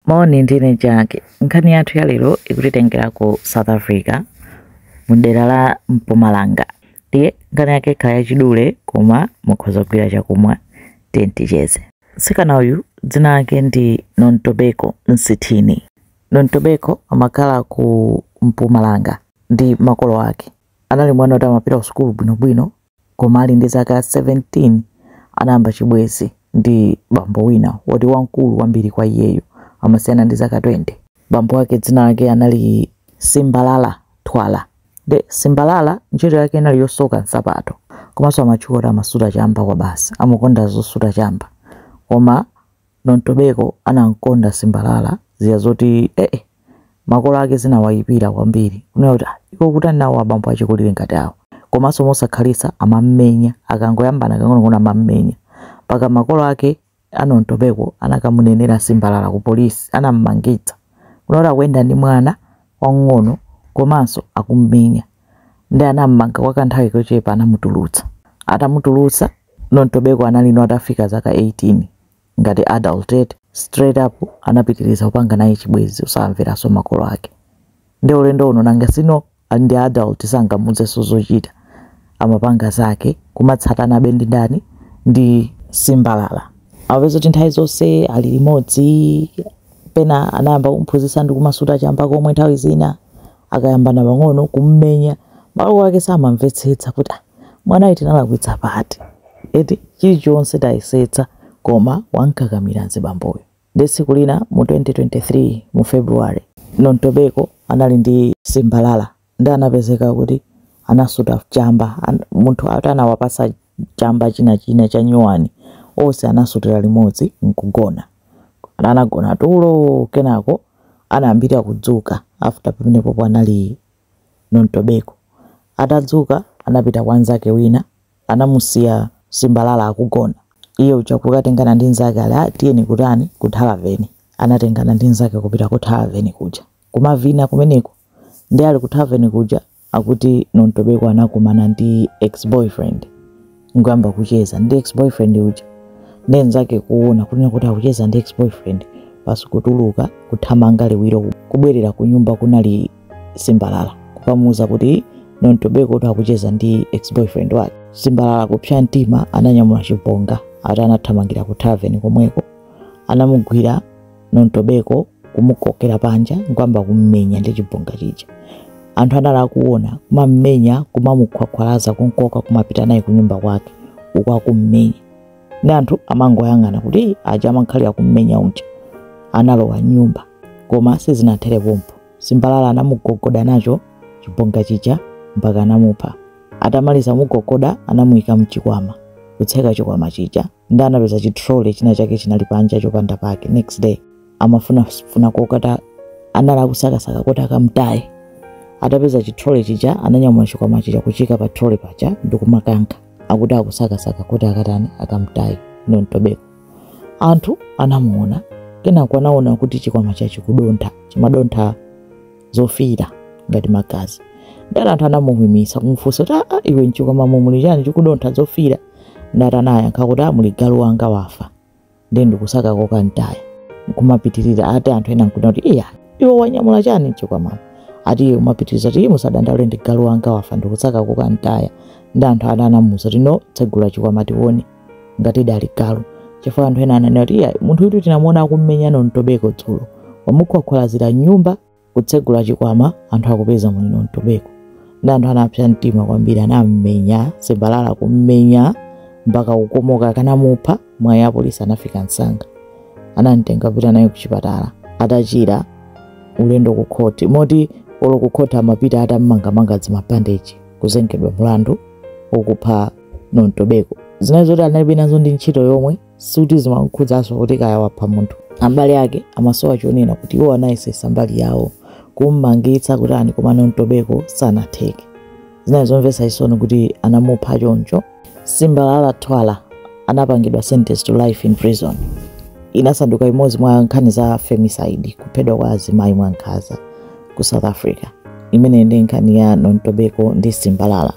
Moni, ndine Jack. Nkhani yathu ya lero ikutitengera ku South Africa mu dera la Mpumalanga. Ndiye nkhani yake ikhala yachidule koma mukhoza kugwira chakumwa tiye ticheze. Mtsikana uyu dzina lake ndi Nontobeko Nsithini. Nontobeko amakhala ku Mpumalanga ndi makolo ake. Anali mwana woti amapita ku sukulu bwinobwino Koma ali ndi zaka 17, anayamba chibwenzi ndi bambo wina woti wamkulu kwambiri kwa iyeyo, amasiyana ndi zaka 20. Bambo wake dzina lake anali Simbalala Thwala. Nde Simbalala ntchito yake inali yosoka nsapato. Komanso amatchuka kuti amasuta chamba kwabasi. Amakonda zosuta chamba. Koma Nontobeko anamkonda Simbalala zija zoti ee makolo ake zinawayipira kwambiri kunena kuti "Ah, iwe ukutani nawo abambo achikulire ngati awa komanso mosakhalitsa amammenya akangoyambana kang'onong'ono amammenya mpaka makolo ake a Nontobeko anakamunenera Simbalala ku polisi anammangitsa kunena kuti akuyenda ndi mwana wamng'ono komanso akummenya nde anam'manga kwa kanthawi kochepa anamutulutsa. Atamutulutsa, Nontobeko anali ano atafika zaka 18 ngati adult eti, straight up anapitiliza kupanga naye chibwezi osamveranso makolo ake. Nde ulendo uno nanga si pano ndi adult sangamuuzenso zochita, amapanga zake kumatsatanabe ndi ndani ndi Simbalala. Amapeza kuti nthawi zonse ali limodzi, pena anayamba kumphunzitsa ndi kumasuta chamba komwe nthawi zina. akayambana pang'ono kummenya makolo ake samamvetsetsa kuti ah, mwanayu tinalakwitsa pati eti chilichonse tayesetsa koma wamkakamira mzibamboyo nde tsiku lina mu 2023 mu february nontobeko anali ndi simbalala nde anapezeka kuti anasuta chamba munthu ati anawapasa chamba china china cha nyuwani onse anasutira limodzi nkugona anagona tulo kenako anayambira kudzuka after pamenepo anali nontobeko atadzuka anapita kwa nzake wina anamusiya simbalala akugona iye uja kukatengana ndi nzake ali "Ah, tiyeni kutani ku tavern anatengana ndi nzake kupita ku tavern kuja kumavina kumeneko nde ali ku tavern kuja Akuti Nontobeko anakumana ndi ex-boyfriend nkuyamba kucheza ndi ex-boyfriend uja nde nzake kuona kunena kuti akucheza ndi ex-boyfriend basi kutuluka kuthamanga liwiro kubwerera ku nyumba kunali simbalala kukamuuza kuti Nontobeko kuti akucheza ndi ex-boyfriend wake. Simbalala kupsa mtima ananyamula chibonga ati anathamangira ku tavern komweko anamugwira nontobeko kumukokera panja nkwamba kummenya ndi chibonga chija anthu anali akuona kumammenya kumamukhwakhwalaza kunkoka kumapita naye kunyumba kwake uku akummenya ndi anthu amangoyang'ana kuti aja amankhali akummenya unja analowa mnyumba koma sizinathere pompo simbalala anamugogoda nacho chibonga chija mpaka anamupha atamaliza kumugogoda anamuyika mchikwama kutseka chikwama chija nde anapeza chi trolley china chake chinali panja chopanda pake next day amafuna funa kokata anali akusakasaka kuti akamtaye atapeza chi trolley chija ananyamula chikwama chija kuchiika pa trolley paja ndikumakanka akuti akusakasaka kuti akatani akamtaye nontobeko anthu anamuona kenako anaona kuti chikwamacho chikudontha chimadontha zofiira ngati magazi ndati anthu anamuimitsa kumufunsa kuti aa iwe mchikwama muli chani chikudontha zofiira ndati anayankha kuti aa muli galu wanga wafa ndiye ndikusaka kokamtaya nkumapitirira ati anthu ena nkuona kuti iya iwe wanyamula chani mchikwamamo ati iye amapitiriza kuti musadandaule ndi galu wanga wafa ndikusaka kokamtaya ndi anthu ena anamuuza kuti no tsegula chikwama tione ngatidi ali galu chifukwa anthu ena ananena kuti iya munthu uyutu tinamuona akummenya nontobeko dzulo wamukhwakhwalazira mnyumba kutsegula chikwama anthu akupeza muli nontobeko ndi anthu anapsa mtima kwambiri anammenya simbalala kummenya mpaka kukomoka akanamupha mwayi apolisi anafika msanga anamtenga kupita naye kuchipatala atachira ulendo ku khoti moti olo ku khoti amapita atammangamanga zimabandeji kuzengedwa mlandu okupha nontobeko zinali zoti analibe nazo ndi ntchito yomwe sikuti zimamkhudzanso kuti kaya wapha munthu abale ake amasowa chonena kuti iwo anayesetsa mbali yawo kummangitsa kutani koma nontobeko sanatheke zinali zomvetsa chisoni kuti anamupha choncho simbalala twala anapangidwa sentence to life in prison inasanduka imodzi mwa nkhani za femicide kuphedwa kwa azimayi mwankhanza ku south africa imeneyi ndi nkhani ya nontobeko ndi simbalala